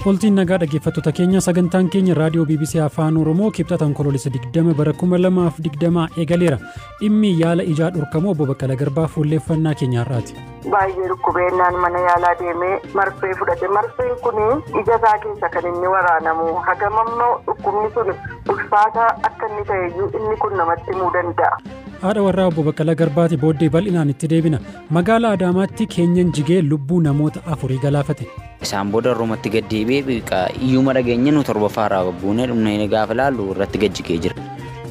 Oltiin nagaa dhaggeeffattoota keenya sagantaan keenya raadiyoo BBC Afaan Oromoo kibxata onkoloolessa 20 bara 2020 eegaleera. Dhimmi yaala ijaa dhorkamuu obbo Baqqala Garbaa fuulleeffannaa keenya har'aati. Baay'ee dhukkubeennaan mana yaalaa deemee marfee fudhate. Marfeen kun ija isaa keessa kan inni waraanamu. Hagam ammoo dhukkubni sun ulfaataa akka inni ta'eyyuu inni kun namatti himuu danda'a. Haadha warraa obbo Baqqala Garbaati booddee bal'inaan itti deebina. Magaalaa Adaamaatti keenyan jigee lubbuu namoota afurii galaafate. Isaan booda Roomatti gad deebi'ee beeka. Iyyuma dhageenye nu torbaffaa irraa buunee dhumnee gaafa ilaallu irratti gad jigee jira.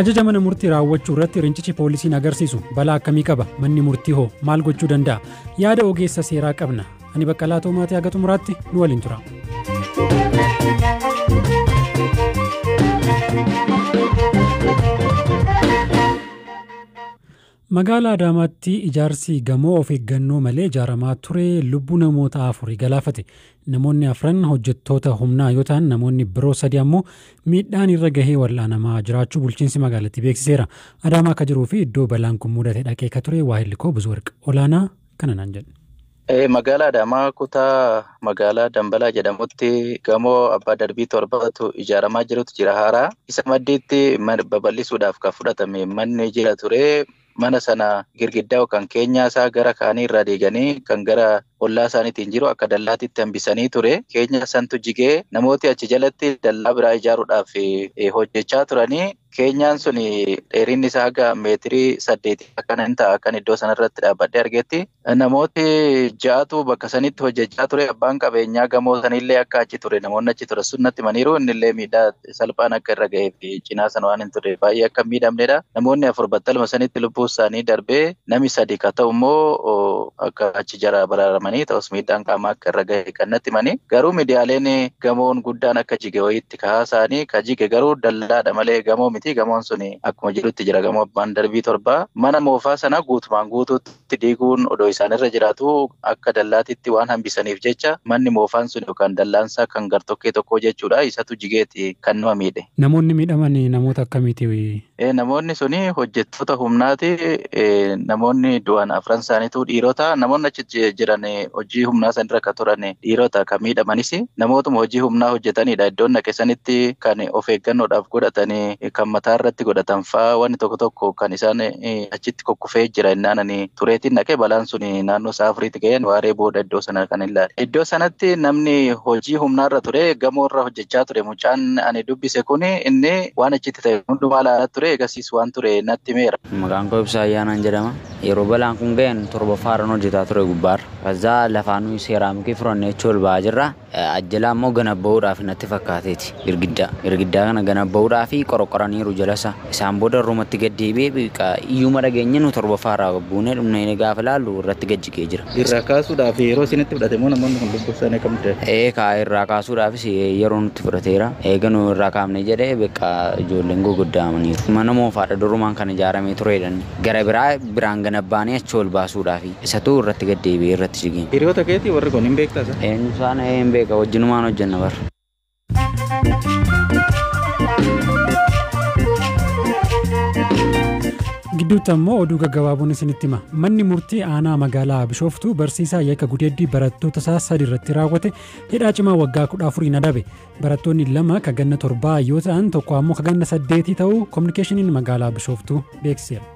Ajaja mana murtii raawwachuu irratti rincichi poolisiin agarsiisu balaa akkamii qaba? Manni murtii hoo maal gochuu danda'a? Yaada ogeessa seeraa qabna. Ani Baqqalaa Toomaatii haga xumuraatti nu waliin tura. Magaalaa Adaamaatti ijaarsi gamoo of eeggannoo malee ijaaramaa ture lubbuu namoota afurii galaafate. Namoonni afran hojjettoota humnaa yoo ta'an namoonni biroo sadi ammoo miidhaan irra gahee wal'aanamaa jiraachuu bulchiinsi magaalattii beeksiseera. Adaamaa akka jiruu fi iddoo balaan kun mudate dhaqee ka ture waahilli koo Buzuwarq Olaanaa kana naan jedhe. Magaalaa Adaamaa kutaa magaalaa Dambalaa jedhamutti gamoo abbaa darbii torbatu ijaaramaa jirutu jira haaraa. Isa maddiitti babal'isuudhaaf kan fudhatame manni jira ture. Mana sana girgiddaa yookaan keenyaa isaa gara kaanii irraa diiganii kan gara ollaa isaaniitiin jiru akka dallaatitti hambisanii ture. Keenyaa santu jigee namooti achi jalatti dallaa biraa ijaaruudhaaf hojjechaa turanii. Keenyaan sun dheerinni isaa haga meetirii saddeetii akkana hin ta'a akkan iddoo sanarratti dhaabbadhee argetti. Namooti ja'atu bakka sanitti hojjechaa ture. Abbaan qabeenyaa gamoo sanillee akka achi ture namoonni achi ture sun natti himaniiru. Innillee miidhaa salphaan akka irra ga'ee fi cinaa sana waan hin turreef baay'ee akka hin miidhamnedha. Namoonni afur battaluma sanitti lubbuu isaanii darbee nami sadi ka ta'u immoo akka achi jara baraaramanii ta'us miidhaan qaamaa akka irra ga'e kan natti himani. Garuu miidiyaaleen gamoon guddaan akka jige wayiitti itti kahaa saanii ka jige garuu dallaa dha malee gamoo miti gamoon suni akkuma jirutti jira gamoo abbaan darbii torbaa mana moofaa sana guutumaan guutuutti diiguun odoo isaan irra jiraatuu akka dallaatitti waan hambisaniif jecha manni moofaan suni yookaan dallaansaa kan gartokkee tokkoo jechuudha isatu jigeeti kan nama miidhe. Namoonni miidhaman namoota akkamiiti? Ee, Namoonni suni hojjettoota humnaati. Ee, Namoonni du'an afran isaaniitu dhiirota. Namoonni achi ji- jiran ee, hojii humnaa san irra kan turan ee, dhiirota kan miidhamanis namootuma hojii humnaa hojjetanidha. Iddoon dhaqe sanitti kan of eeggannoodhaaf godhatan ee, kan mataa irratti godhatan fa'aa wanni tokko tokko kan isaan ee, achitti kukkufee jira innaan ani tureetiin dhaqe balaan sun naannoo sa'a afuriitti ga'een waaree booda iddoo sana kan ilaale. Iddoo sanatti namni hojii humnaarra ture gamoorra hojjechaa ture. Mucaan ani dubbise kun inni waan achitti ta'e hundumaa ilaalaa ture, ergasiis waan ture natti himeera. Maqaan koo Ibsaa Ayyaanaan jedhama. Yeroo balaan kun ga'een torbaffaarran hojjetaa ture gubbaarra. Kazaa lafaa nuyi seeraamikii furannee achi ol ba'aa jirra. Ajjalaa immoo ganabba'uudhaaf natti fakkaateeti girgiddaa. Girgiddaa kana ganabba'uudhaaf qoroqqoraniiru jalasaa. Isaan booda irrumatti gad deebi'ee bqa iyyuma dhageenye nu torbaffaa irraa buunee dhumne gaafa ilaallu irratti gad jigee jira. Irraa kaasuudhaaf yeroo isinitti fudhate moo namoonni kun lubbuu isaanii akkamitti dhabe? Ee kaa irraa kaasuudhaafis yeroo nutti fudhateera. Eega nu irraa kaafne jedhee bqa ijoolleen guguddaa'amaniiru. Mana moofaadha durumaan kan ijaaramee ture jedhani. Gara biraa biraan ganabbaanii achi ol baasuudhaafi. Isatu irratti gad deebi'ee irratti jigeen. Hiriyoota keetii warri kun hin beektaa isaan? Eenyu isaan? Ee hin beeka wajjinumaan hojjenna bar. gidduutti ammoo oduu gaggabaaboon isinitti hima manni murtii aanaa magaalaa bishooftuu barsiisaa yakka gudeeddii barattoota isaa sadi irratti raawwate hidhaa cimaa waggaa kudha afuriin adabe barattoonni lama kaganna torbaa yoo ta'an tokko ammoo kaganna saddeetii ta'uu kominikeeshiniin magaalaa bishooftuu beeksiseera.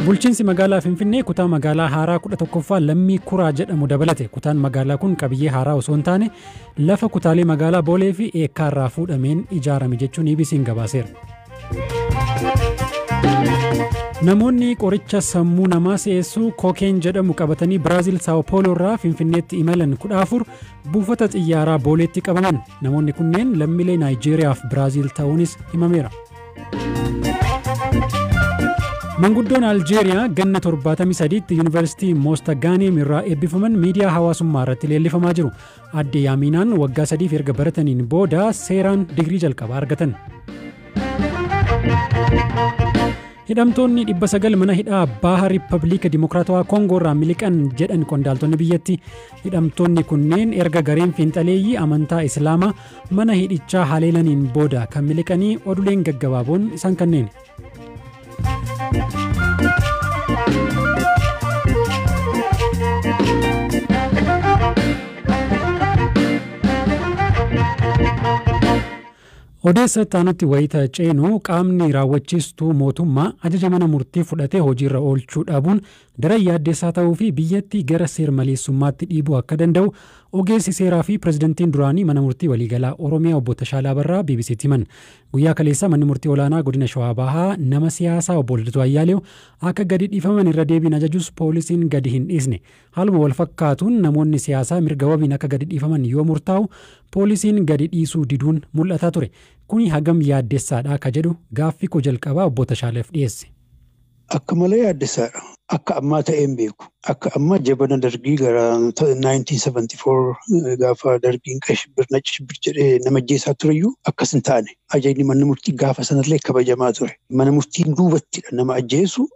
Bulchiinsi magaalaa Finfinnee kutaa magaalaa haaraa 11ffaa lammii kuraa jedhamu dabalate. Kutaan magaalaa kun qabiyyee haaraa osoo hin taane lafa kutaalee magaalaa Boolee fi Eekkaa irraa fuudhameen ijaarame jechuun EBC'n gabaaseera. Namoonni qoricha sammuu namaa si'eessuu kookeen jedhamu qabatanii Biraazil Saawopooloo irraa Finfinneetti imalan 14 Buufata xiyyaaraa Booleetti qabaman. Namoonni kunneen lammilee Naayijeeriyaa fi Biraaziil ta'uunis himameera. Manguddoon Aljeeriyaa ganna 73tti Yuunivarsiitii Moostagaaneem irraa eebbifaman miidiyaa hawaasummaa irratti leellifamaa jiru. Aadde Yaamiinaan waggaa sadiif erga barataniin booda seeraan digirii jalqabaa argatan. Hidhamtoonni 900 mana hidhaa Baaha Riippabliika Dimokiraatawaa Koongoo irraa miliqan jedhan qondaaltonni biyyatti. Hidhamtoonni kunneen erga gareen fiinxaleeyyii amantaa Islaamaa mana hidhichaa haleelaniin booda kan miliqanii oduleen gaggabaaboon isaan kanneen. Odeessa itti aanutti wayita ceenu, qaamni raawwachiistuu mootummaa ajaja mana murtii fudhate hojiirra oolchuu dhabuun daran yaaddeessaa ta'uu fi biyyatti gara seer-maleessummaatti dhiibuu akka danda'u ogeessi seeraa fi pirezidantiin duraanii Mana Murtii Waliigalaa Oromiyaa Obbo Tashaalaa Abarraa BBC'tti himan. Guyyaa kaleessaa Manni Murtii Olaanaa Godina Shawaa Bahaa nama siyaasaa Obbo Lidatuu Ayyaaleew akka gadi dhiifaman irra deebiin ajajus poolisiin gadi hin dhiisne. Haaluma walfakkaatuun namoonni siyaasaa mirga wabiin akka gadi dhiifaman yoo murtaa'u poolisiin gadi dhiisuu diduun mul'ataa ture. Kuni hagam yaaddessaadha ka jedhu gaaffii koo jalqabaa Obbo Tashaaleef dhiyeesse. Akka malee yaaddessaadha. Akka ammaa ta'ee hin beeku. Akka ammaa jabana Dargii gara 1974 gaafa Dargiin qay shibbir, nacci shibbir jedhee nama ajjeesaa tureyyuu akkas hin taane. Ajajni manni murtii gaafa sanallee kabajamaa ture. Mana murtiin duubattidha nama ajjeesu.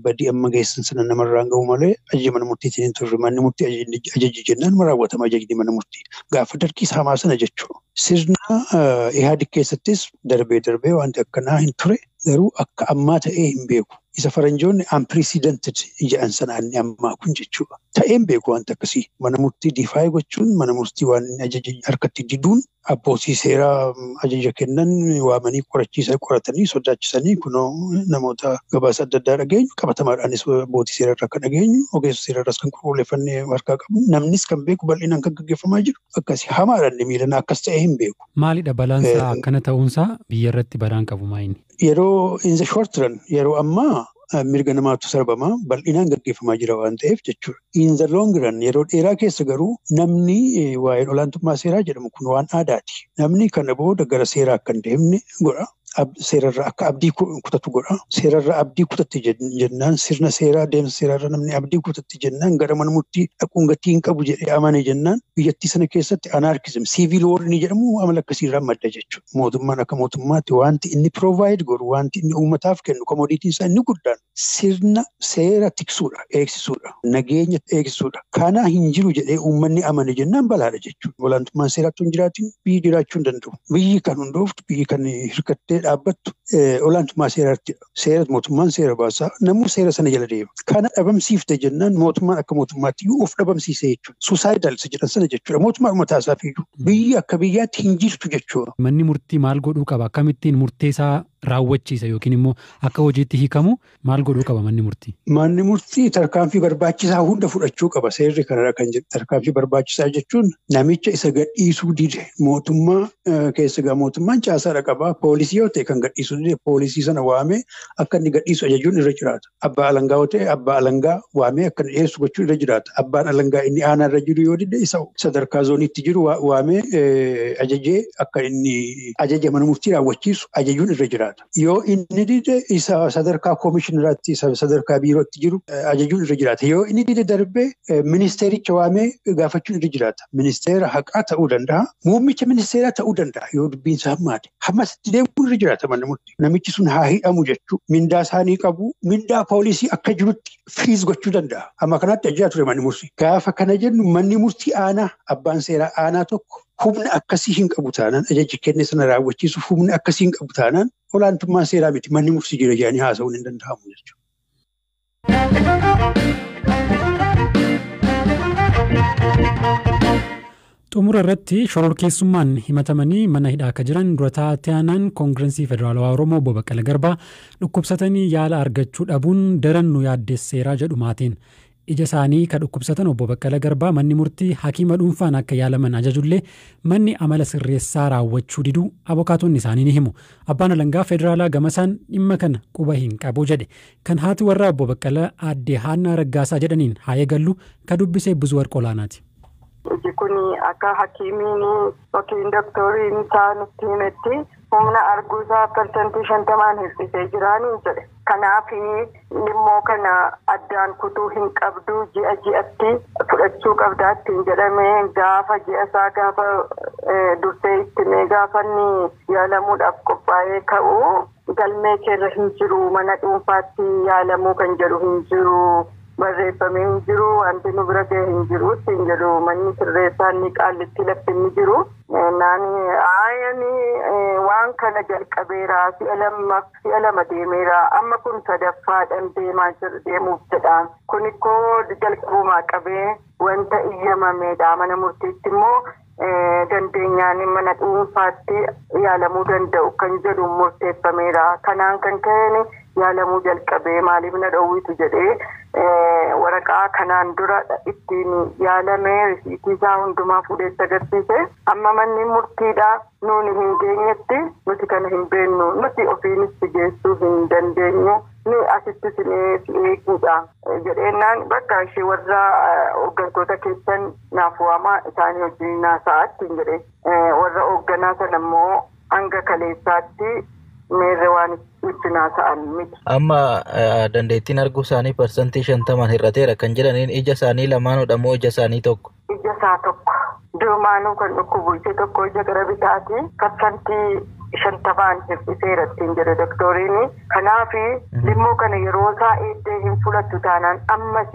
badii amma geessan sana namarraan ga'uu malee ajaja mana murtiitiin hin turre. Manni murtii ajajni ajaje jennaan ma raawwatama ajajni mana murtii. Gaafa dargii saamaa sana jechuu. Sirna eh, Ihaadig keessattis darbee darbee wanti akkanaa hin ture garuu akka ammaa ta'ee hin beeku. Isa faranjoonni unprecedented jedhan sana inni ammaa kun jechuudha. Ta'ee hin beeku wanti akkasii. Mana murtii difaayee gochuun mana murtii waan inni ajaje harkatti diduun abbootii seeraa ajaja kennan waamanii qorachiisa qoratanii sodaachisanii kunoo namoota gabaasa adda addaa dhageenyu qabatamaadhaanis abbootii seeraa irraa kan dhageenyu ogeessa seeraa irraas kan qulqulleeffannee harkaa qabnu namnis kan beeku bal'inaan kan gaggeeffamaa jiru akkasi hamaadhaan miilanaa akkas ta'ee hin beeku. Maalidha balaansaa akkana ta'uunsaa biyyarratti balaan qabu maayini? Yeroo in the short run yeroo ammaa eh, mirga namaatu sarbama bal'inaan gaggeeffamaa jira waan ta'eef jechuudha. In the long run yeroo dheeraa keessa garuu namni eh, waa'een olaantummaa seeraa jedhamu kun waan aadaati. Namni kana booda gara seeraa akka hin deemne godha. Ab- Seerarra akka abdii ku- kutatu godha. Seerarra abdii kutatte jen- jennaan sirna seeraa deemsa seeraarra namni abdii kutatte jennaan gara mana murtii dhaquun gatii hin qabu jedhee amane jennaan biyyattii sana keessatti anarkizim siivil woor inni jedhamu amala akkasiirraa madda jechuudha. mootummaan akka mootummaatti wanti inni provide godhu wanti inni uummataaf kennu komodiitiin isaa inni guddaan sirna seera tiksuudha eegsisuudha nageenya eegsisuudha kana hin jiru jedhee uummanni amane jennaan balaadha jechuudha olaantummaan seeraattu hin jiraatin biyyi jiraachuu hin danda'u biyyi kan hundooftu biyyi kan hirkattee dhaabbattu olaantummaa seeraatti seera mootummaan seera baasaa namuu seera sana jala deema. Kana dhabamsiifte jennaan mootummaan akka mootummaatti iyyuu of dhabamsiisee jechuudha. Suusaayidal isa jedhan sana jechuudha. Mootummaan mataa isaaf iyyuu biyyi akka biyyaatti hin jirtu jechuudha. Manni murtii maal godhuu qaba? Akkamittiin murtee isaa raawwachiisa yookiin immoo akka hojiitti hiikamu maal godhuu qaba manni murtii? Manni murtii tarkaanfii barbaachisaa hunda fudhachuu qaba. Seerri kanarra kan jiru tarkaanfii barbaachisaa jechuun namicha isa gadhiisuu dide mootummaa keessa egaa mootummaan caasaadha qaba. Poolisii yoo ta'e kan gadhiisu dide poolisii sana waamee akka inni gadhiisu ajajuun irra jiraata. Abbaa alangaa yoo ta'e abbaa alangaa waamee akka inni dhiyeessu gochuu irra jiraata. Abbaan alangaa inni aanaa irra jiru yoo dide isa sadarkaa zooniitti jiru waamee ajajee akka inni ajaja mana murtii raawwachiisu ajajuun irra jiraata. Yoo inni dide isa sadarkaa koomishinaratti isa sadarkaa biirootti jiru ajajuun irra jiraata. Yoo inni dide darbee ministeericha waamee gaafachuun irra jiraata. Ministeera haqaa ta'uu danda'a. Muummicha ministeeraa ta'uu danda'a yoo dubbiin isaa hammaate. Hammas itti deemuun irra jiraata manni murtii. Namichi sun haa hidhamu jechuu mindaa isaanii qabu. Mindaa poolisii akka jirutti firiis gochuu danda'a. Amma kanaatti ajjaa ture manni murtii. Gaafa kana jennu manni murtii aanaa abbaan seeraa aanaa tokko humna akkasii hin qabu taanaan ajaji kenne sana raawwachiisuuf humna akkasii hin qabu taanaan olaantummaan seeraa miti manni murtii jira jedhanii haasa'uun hin danda'amu jechuudha. Xumura irratti shororkeessummaan himatamanii mana hidhaa akka jiran dura taa'aanaan koongirensii federaalawaa Oromoo obbo Baqqala Garbaa dhukkubsatanii yaala argachuu dhabuun daran nu yaaddesseeraa jedhu maatiin. Ija isaanii ka dhukkubsatan Obbo Baqqala Garbaa manni murtii hakiima dhuunfaan akka yaalaman ajajullee manni amala sirreessaa raawwachuu diduu abokaatonni isaanii ni himu. Abbaan alangaa federaalaa gamasaan dhimma kana quba hin qabu jedhe. Kan haati warraa Obbo Baqqala Aadde Haannaa Raggaasaa jedhaniin haa eegallu, ka dubbise Buzuwarq Olaanaati. Iji kun akka hakiimiin yookiin doktoriin isaa nutti himetti humna arguu isaa persentii shantamaan hir'isee jira nuun jedhe. Kanaaf lilmoo kana addaan kutuu hin qabdu ji'a ji'atti fudhachuu qabda ittiin jedhame gaafa ji'a isaa gaafa dursee itti himee gaafa inni yaalamuudhaaf qophaa'ee ka'u Galmee kee irra hin jiru, mana dhuunfaatti yaalamuu kan jedhu hin jiru, barreeffamee hin jiru, wanti nu bira gahe hin jiru ittiin jedhu manni sirreessaa inni Qaallittii lafti inni jiru. Jennaan ayi ani waan kana jalqabeera, si'a lammaf, si'a lama deemeera, amma kun sadaffaadhan deemaa jir, deemuuf jedha. Kunikkoo jalqabumaa qabee wanta iyyamameedha, mana murtiitti immoo dandeenyaan mana dhuunfaatti yaalamuu danda'u kan jedhuun murteeffameera. Kanaan kan ka'een yaalamuu jalqabe maaliif na dhowwitu jedhee waraqaa kanaan dura ittiin yaalame risiitii isaa hundumaa fuudhee itti agarsiise. Amma manni murtiidha nuuni hin geenyetti nuti kana hin beennu nuti ofiinis si geessuu hin dandeenyu ni asitti sinee si eeguudha jedheennaan bakka ishee warra hooggantoota keessan naaf waamaa isaanii wajjiniin haasa'aa ittiin jedhe. Warra hoogganaa sana immoo hanga kaleessaatti meerre waan ittiin haasa'an miti. Amma dandeettiin arguu isaanii parsantii shantamaan hir'ateera kan jedhaniin ija isaanii lamaanudha moo ija isaanii tokko? Ija isaa tokko. Durumaanuu kan dhukkubu ija tokko ija gara bitaati. Parsantii shantamaan hir'iseera ittiin jedhe doktoriin. Kanaaf limmoo kana yeroo isaa eegdee hin fudhattu taanaan ammas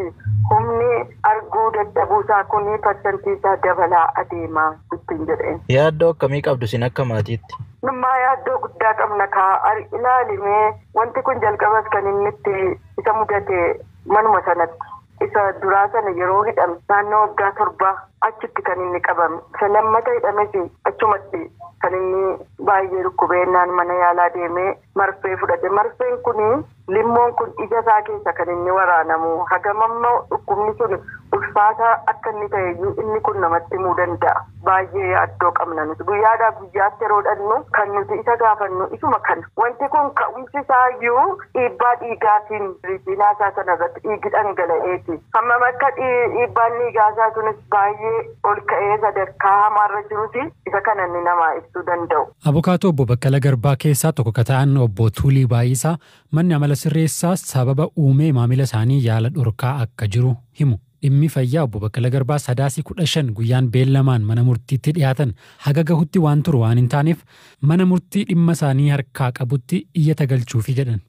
humni arguu dadhabuu isaa kun parsantii isaa dabalaa adeema ittiin jedheen. Yaaddoo akkamii qabdu isin akka maatiitti? Nummaa yaaddoo guddaa qabna kaa ilaali mee wanti kun jalqabas kan inni itti isa mudate manuma sanatti. Isa duraa sana yeroo hidhame naannoo waggaa torbaa achitti kan inni qabame. Isa lammata hidhames achumatti kan inni baay'ee dhukkubee innaan mana yaalaa deemee marfee fudhate. Marfeen kun limmoon kun ija isaa keessa kan inni waraanamu hagam amma dhukkubni sun ulfaataa akka inni ta'e iyyuu inni kun namatti himuu danda'a. Baay'ee yaaddoo qabna nuti. Guyyaadhaa guyyaatti yeroo dhaqnu kan nuti isa gaafannu isuma kana. Wanti kun ka'umsi isaa iyyuu dhiibbaa dhiigaatiin riitiinaa isaa sana irratti dhiigi dhangala'eeti. Hammam akka dhiibbaan dhiigaa isaa sunis baay'ee ol ka'ee sadarkaa hamaa irra jirus isa kana inni namaa ibsuu danda'u. Abokaatoo Obbo Baqqala Garbaa keessaa tokko ka ta'an Obbo Tuulii Baay'isaa manni amala sirreessaa sababa uumee maamila isaanii yaala dhorkaa akka jiru himu. Dhimmi fayyaa Obbo Baqqala Garbaa Sadaasi 15 guyyaan beellamaan mana murtiitti dhiyaatan haga gahutti waan turu waan hin taaneef mana murtii dhimma isaanii harkaa qabutti iyyata galchuufi jedhan.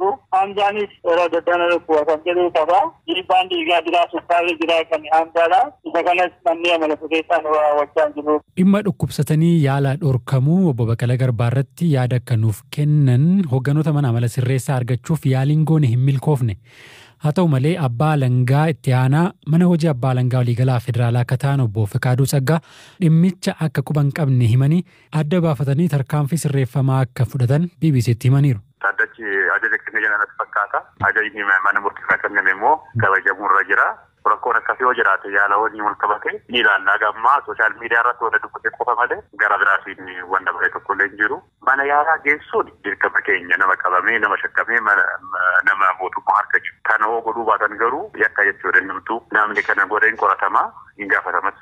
Dur haanjaanis irra daddana dhukkuba kan jedhu qaba. Dhiibbaan dhiigaa jira, sukkaarri jira kan haanjaadha. Isa kanas manni amala sirreessaa nu raawwachaa hin jiru. Dhimma dhukkubsatanii yaala dhorkamuu Obbo Baqala Garbaa irratti yaada akka nuuf kennan hogganoota mana amala sirreessaa argachuuf yaaliin goone hin milkoofne. Haa ta'u malee Abbaa Alangaa Itti Aanaa Mana Hojii Abbaa Alangaa Waliigalaa Federaalaa akka ta'an Obbo Fiqaaduu Tsaggaa dhimmicha akka quba hin qabne himanii adda baafatanii tarkaanfii sirreeffamaa akka fudhatan BBC'tti himaniiru. Dhaddachi ajaja kenne jira natti fakkaata. Ajajni mana murtii irraa kenname immoo kabajamuu irra jira. Rakkoon akkasii yoo jiraate yaala wajjin wal qabatee ni ilaalla. Haga ammaa sooshaal miidiyaa irratti wanta dubbate qofa malee gara biraatiin waan dabaree tokko illee hin jiru. Mana yaalaa geessuun dirqama keenya nama qabamee nama shakkamee nama mootummaa harka jiru. Kana yoo godhuu baatan garuu yakka jechuudha innumtuu. Namni kana godhe hin qoratama, hin gaafatamas.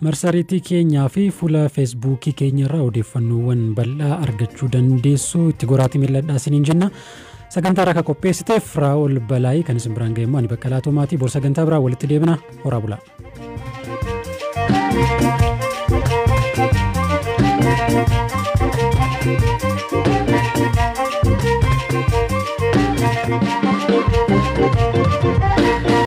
Marsariitii keenyaa fi fuula feesbuukii keenya irraa odeeffannoowwan bal'aa argachuu dandeessu itti goraatii mil'adhaa isiniin jenna. Sagantaa irraa kan qopheessiteef Raa'ol Balaayii kan isin biraan ga'eemmoo ani Baqqalaa Tuumaatii bor sagantaa biraa walitti deebina horaa bulaa. Thank you.